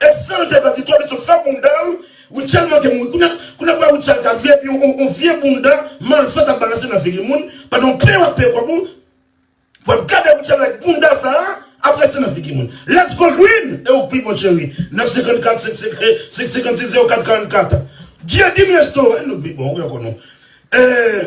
Et san l te pèdi tan li t fè bounda l Rutshelle manke mouri kounye kounye kounya Rutshelle ka vye epi yon vye bounda malfèt ap balanse nan figi moun pandan w peye wap peye kòb ou pou ap gade Rutshelle avèk bounda sa ap resi nan figi moun let's go Green e ou k pi bon cheri 9 54 5 56 04 44 Dieudime Restaurant nou k pi bon wi ankò nou ee.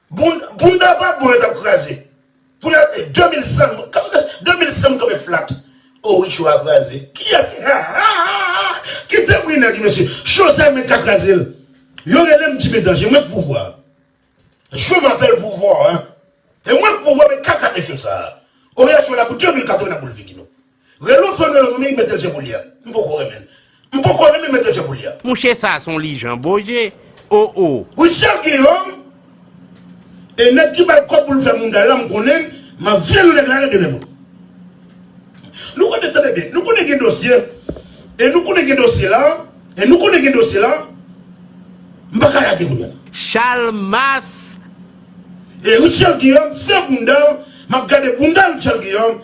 Bounda vagabon yo tap kraze. Pou la 2100 2100 mou tòbe flat. Oh wi show a kraze. Kiyès ki ha ha ha ha kite bri nèg yo mesye. Show sa mwen ka kraze l. Yo relem Jimmy Danger mwen k pouvwa. Je m'appelle pouvoir. E mwen k pouvwa mwen ka kraze show sa. Oya show la pou 2004 mwen nan boul figi nou. Relo fanm lan wi metel je boulya m poko renmenl m poko renmen metel je boulya. Mouche sa son lijan boje oh oh. Rutshelle gen homme e nèg ki bal kòb poul fè mounda la m konnen map vyann nèg la nan de men mwen nou konnen tande byen nou konnen gen dosye e nou konnen gen dosye la e nou konnen gen dosye la m paka lage kounya. Chalmas. E Rutshelle Guillaume fè boundal map gade bounda Rutshelle Guillaume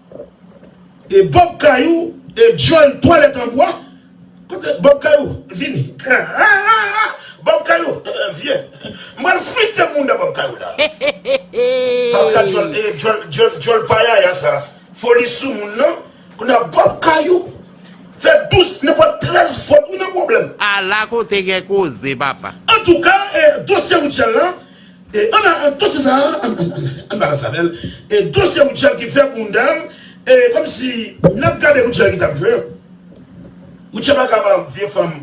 E bob kay ou e dyol twalèt an bwa kote bob kay ou vini hahaha bob kay ou vye m pral flite mouda bob kay ou la fatra dyol e dyol dyol payaya sa foli sou moun nan kounya bob kay ou fè 12 nenpòt 13 fòt ou nan pwoblèm. Ala kote gen koze papa. Antouka e dosye Rutshelle lan E an alan dosye sa a an balans avèl e dosye Rutshelle ki fè boundal e komsi nap gade Rutshelle ki tap jwe Rutshelle pa ka ba vye fanm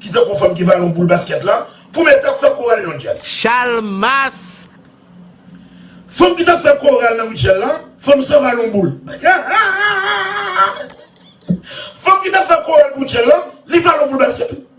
ki tankou fanm ki vale yon boul baskèt la pou met ap fè koral yon djaz. Chalmas! Fanm ki tap fè koral nan Rutshelle la fanm san vale yon boul fanm ki tap fè koral pou Rutshelle la li vale yon boul baskèt wi